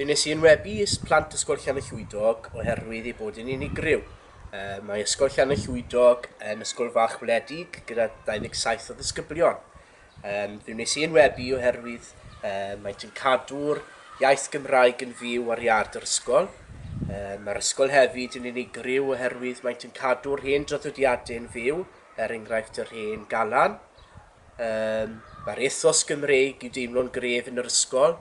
Fe wnes i enwebu plant Ysgol Llanallwydog oherwydd ei bod yn unigryw. Mae Ysgol Llanallwydog yn ysgol fach wledig gyda 27 o ddisgyblion. Fe wnes i enwebu oherwydd maent yn cadw'r iaith Gymraeg yn fyw ar iard yr ysgol. Mae'r ysgol hefyd yn unigryw oherwydd maent yn cadw'r hen draddodiadau'n fyw, er enghraifft yr hen galan. Um, Mae'r ethos Gymreig i deimlo'n gref yn yr ysgol.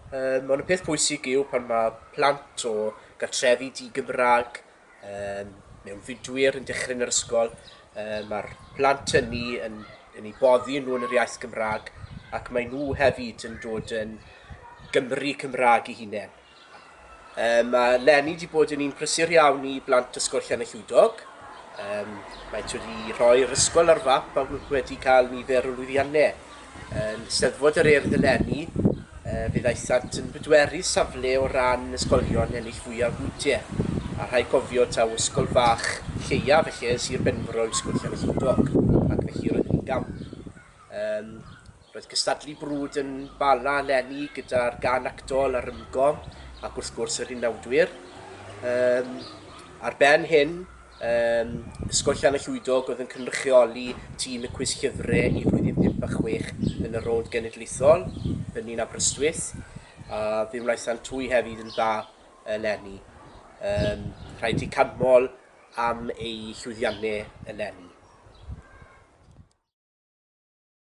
Um, ond y peth pwysig yw pan mae plant o gartrefi di-Gymraeg um, mewn fudwyr yn dechrau yn yr ysgol, um, mae'r plant hynny yn, yn ei boddi yn nhw yn yr iaith Gymraeg ac mae nhw hefyd yn dod yn Gymru Cymraeg i hunain. Yym, mae Lenny wedi bod yn un prysur iawn i blant Ysgol Llanellwydog. Yym, maent wedi rhoi'r ysgol ar fap a wedi cael nifer o lwyddiannau. Yn Steddfod yr Urdd eleni, fe ddaethant yn bedwerydd safle o ran ysgolion ennill fwyaf bwyntiau, a rhaid cofio taw ysgol fach lleiaf felly yn Sir Benfro yw Ysgol Llanellwydog, ac felly roedden ni'n gamp. Yym, Roedd cystadlu brwd yn Bala eleni gyda'r gân actol a'r rymgo ac wrth gwrs yr unawdwyr. Um, ar ben hyn, um, Ysgol Llan y Llwydog oedd yn cynrychioli tîm y cwis llyfrau i flwyddyn 5 a 6 yn y rownd genedlaethol, hynny'n Aberystwyth, a fe wnaethant twy hefyd yn dda eleni. Um, rhaid i canmol am eu llwyddiannau eleni.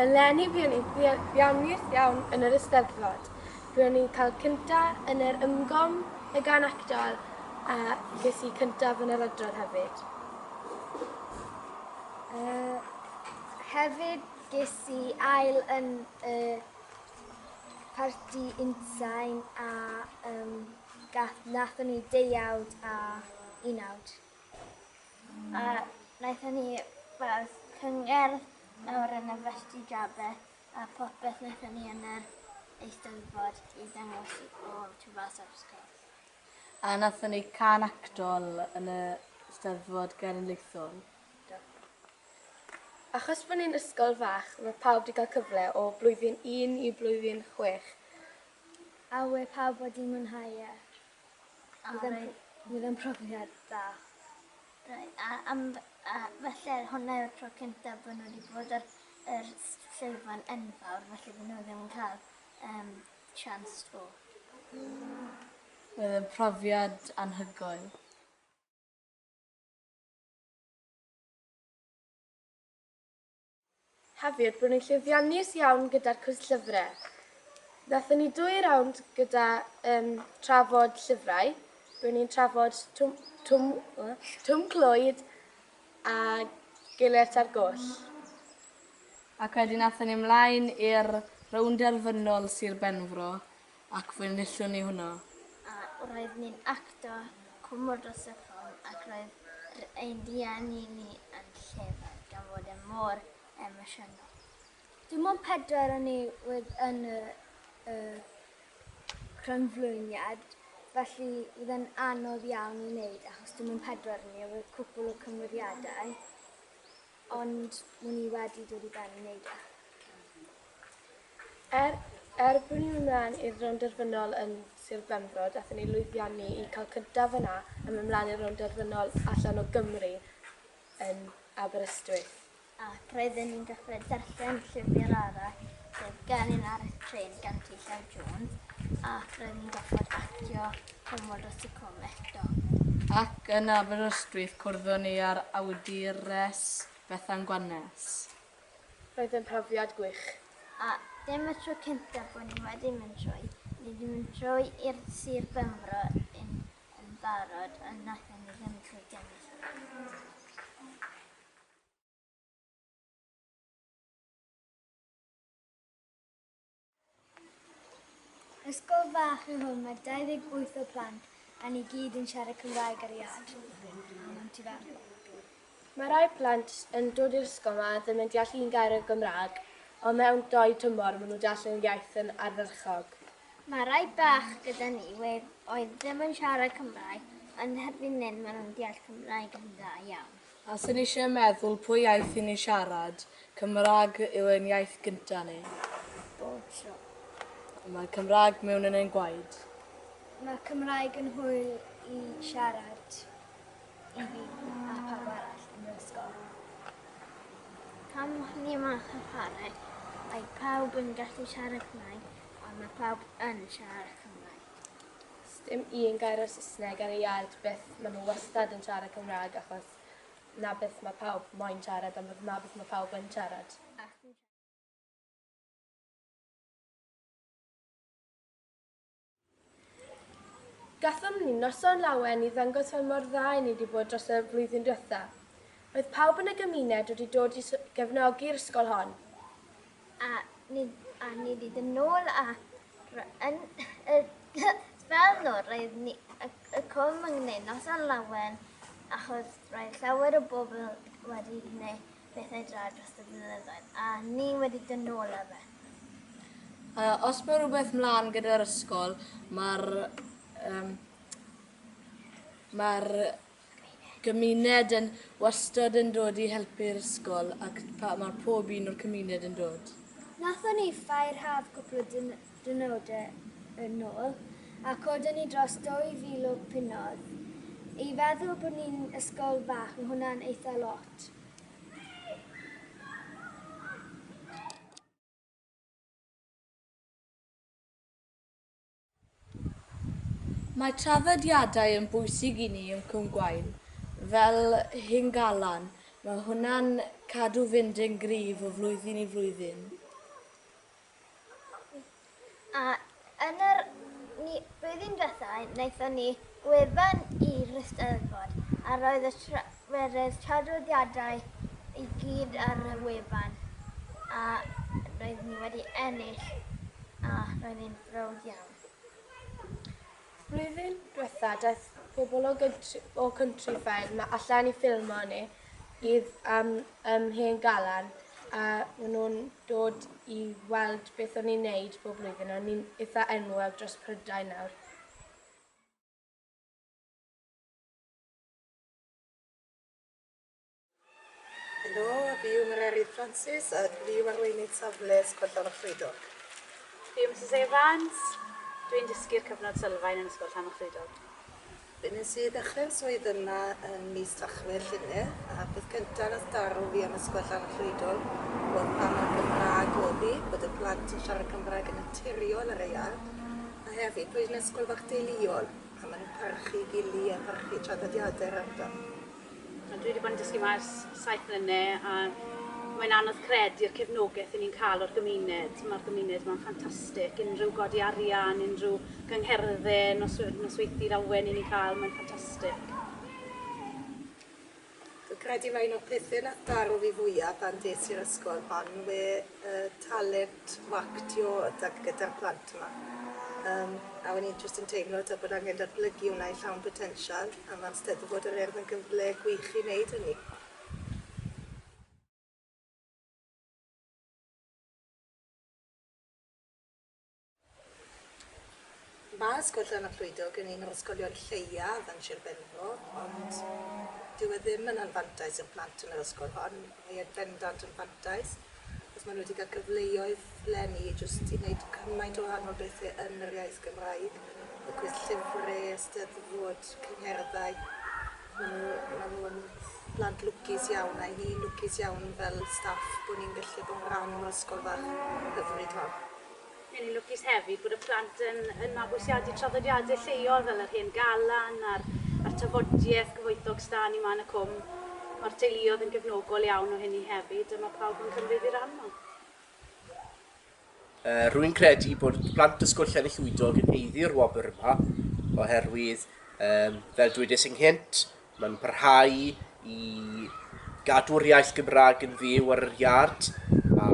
Eleni buon ni'n ddioddefus iawn yn yr Eisteddfod. Buon ni'n cael cynta yn yr ymgom y gan actol a ges i cyntaf yn yr adrodd hefyd. Hefyd ges i ail yn y parti unsain a um, gath, nathon ni deuawd a unawd. A wnaethon ni fel cyngerdd lawr yn y Felty Jabe a popeth wnaethon ni yn yr Eisteddfod i ddangos i bob tu fas o'r ysgol. A wnaethon ni cân actol yn y Steddfod Genedlaethol. Do. Achos bod ni'n ysgol fach, mae pawb 'di cael cyfle o blwyddyn un i blwyddyn chwech. A we pawb wedi mwynhau e? A bydd e'n bydd e'n profiad da. Rei- a am a felly hwnna yw'r tro cyntaf bod nhw wedi bod ar yr s- llwyfan enfawr felly bod nhw ddim yn cael um, chance o. Bydd e'n profiad anhygoel. Hefyd, buon ni'n llwyddiannus iawn gyda'r cwrs llyfrau. Wnaethon ni dwy rownd gyda um, trafod llyfrau. Buon ni'n trafod twm, twm, twm clwyd a gilert ar goll. Ac wedyn athyn ni ymlaen i'r rownd derfynol Sir Benfro, Ac fe wnaethon ni hwnna. A roedd ni'n acto cwmwl dros y ffon ac roedd ein rhieni ni yn llefaid gan fod e mor emosiynol. Dim ond pedwar o ni oedd yn y crynflwyniad, felly oedd e'n anodd iawn i wneud achos dim ond pedwar o ni a roedd cwpwl o cymeriadau Ond wn i wedi dod i ben i wneud e. Er, er bod ni'n mynd mlaen i'r rownd derfynol yn Sir Benfro, dathon ni lwyddiannu i cael cyntaf yna a mynd mlaen i'r rownd derfynol allan o Gymru yn Aberystwyth. Ac roedden ni'n dechrau darllen llyfr arall, sef Gan un arall trên gan T. Llew Jones, ac roedden ni'n gorfod actio Cymorth y Tŷ Cof eto. Ac yn Aberystwyth cwrddon ni â'r awdures Bethan Gwanes. Roedd yn profiad gwych. A dim y tro cyntaf bod ni wedi mynd trwy, ni wedi mynd trwy i'r Sir Benfro yn yn barod ond naethon ni ddim trwy gennych chi. Ysgol fach yw hwn, mae 28 o plant a ni gyd yn siarad Cymraeg ar iad. Mae rhai plant yn dod i'r ysgol yma ddim yn deall un gair o Gymraeg, ond mewn dou tymor maen nhw'n deall yn iaith yn ardderchog. Mae rhai bach gyda ni oedd ddim yn siarad Cymraeg, ond erbyn hyn maen nhw'n deall Cymraeg yn dda iawn. A sy'n eisiau meddwl pwy iaith i ni siarad, Cymraeg yw ein iaith gynta ni. Bob tro. Mae Cymraeg mewn yn ein gwaed. Mae Cymraeg yn hwyl i siarad i fi a pawb arall yn yr ysgol. Pan o'n ni yma yn chwarae, mae pawb yn gallu siarad Cymraeg, ond mae pawb yn siarad Cymraeg. Sdim un gair o Sysneg ar y iard byth ma nhw wastad yn siarad Cymraeg achos na byth ma pawb moyn siarad ond ma byth ma pawb yn siarad. Gathom ni noson lawen i ddangos fel mor dda i ni di bod dros y flwyddyn dwetha. Roedd pawb yn y gymuned wedi dod i gefnogi'r ysgol hon. A nid hyd yn ôl yn y spel nawr, roedd y Cwm yn gwneud noson lawen achos roedd llawer o bobl wedi gwneud bethau da dros y blynyddoedd a ni wedi dod nôl â fe. Uh, os mae rhywbeth mlaen gyda'r ysgol, mae'r um, mae'r gymuned yn wastad yn dod i helpu'r ysgol ac pa, mae pob un o'r cymuned yn dod. Nathon ni ffair haf cwpl o dynodau yn ôl a codon ni dros 2,000 o punnoedd. I feddwl bod ni'n ysgol fach mae hwnna'n eitha lot. Mae traddodiadau yn bwysig i ni yn Cwm Gwaun, fel Hyngalan, mae hwnna'n cadw fynd yn gryf o flwyddyn i flwyddyn. A yn yr ni blwyddyn diwetha' naethon ni gwefan i'r Eisteddfod a roedd y tra- Mae rhai traddodiadau i gyd ar y wefan a roedd ni wedi ennill a roedd e'n browd iawn. Blwyddyn dwetha daeth pobl o gyntri, o country ffair ma allan i ffilmo ni idd am ym Mhen Galan a maen nhw'n dod i weld beth o'n i'n neud bob blwyddyn a ni'n eitha enwog dros Prydain nawr. Helo a fi yw Mererid Francis a dwi yw arweinydd safle Ysgol Llanwch Llwydog. Fi yw Mrs Evans, dwi'n dysgu'r cyfnod sylfaen yn Ysgol Llanwch Llwydog. Fi nes i ddechrau'r swydd yma yn mis Tachwedd llynedd a peth cyntaf nath daro fi am Ysgol Llanwch Llwydog oedd pa mor Gymraeg oedd hi, bod y plant yn siarad Cymraeg yn naturiol ar y iard a hefyd bod hi'n ysgol fach deuluol. A maen nhw'n parchu gili a parchu traddodiadau yr ardal. A dwi wedi bod yn dysgu yma ers saith mlynedd a mae'n anodd credu'r cefnogaeth ni'n cael o'r gymuned. Mae'r gymuned yma'n ffantastig. Unrhyw godi arian, unrhyw gyngherddau, nos, nosweithi'r awen ni'n cael, mae'n ffantastig. Dwi'n credu mae un o'r pethe nath daro fi fwya pan des i'r ysgol hon yw e y talent o actio y da- gyda'r plant yma. Yym a o'n i'n jyst yn teimlo t'o' bod angen datblygu wnna i llawn botensial a ma'r Steddfod yr Urdd yn gyfle gwych i neud hynny. Mae Ysgol Llan y Clwydog yn un o'r ysgolion lleiaf yn Sir Benfro, ond dyw e ddim yn anfantais i'r plant yn yr ysgol hon. Mae e'n bendant yn fantais, achos maen nhw wedi cael cyfleoedd leni jyst i wneud cymaint o wahanol bethe yn yr iaith Gymraeg, y cwis llyfre, y 'Steddfod, cyngherddau. Maen nhw, maen nhw yn blant lwcus iawn, a 'y ni'n lwcus iawn fel staff bo' ni'n gallu bod yn rhan o'r ysgol fach hyfryd hon. Mae ni'n lwcus hefyd bod y plant yn yn mabwysiadu traddodiadau lleol fel yr hen galan a'r a'r tafodiaith gyfoethog stân i man y cwm. Mae'r teuluodd yn gefnogol iawn o hynny hefyd a mae pawb yn cymryd i ran nhw. Yy rwy'n credu bod plant Ysgol Llanillwydog yn haeddu'r wobr yma oherwydd yym fel dwedais ynghynt Mae'n parhau i gadw'r iaith Gymraeg yn fyw ar yr iard, a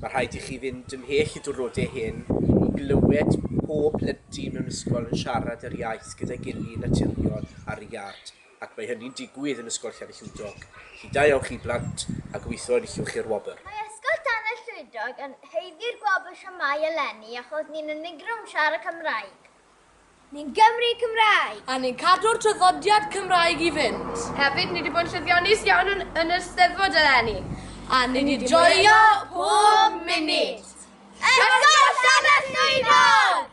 ma' rhaid i chi fynd ymhell y diwrnode hyn i glywed pob plentyn mewn ysgol yn siarad yr iaith gyda'i gily naturiol ar y iard, ac mae hynny'n digwydd yn Ysgol Llanellwydog. Felly da iawn chi blant, a gobeithio enillwch chi'r wobr. Mae Ysgol Llanellwydog yn haeddu'r gwobr shwmae eleni achos ni'n unigryw yn siarad Cymraeg. Ni'n Gymry Cymraeg! A ni'n cadw'r traddodiad Cymraeg i fynd. Hefyd, ni 'di bod yn llwyddiannus iawn yn yn yr Steddfod eleni. A ni 'di joio pob munud! Ysgolldafell Swyddog!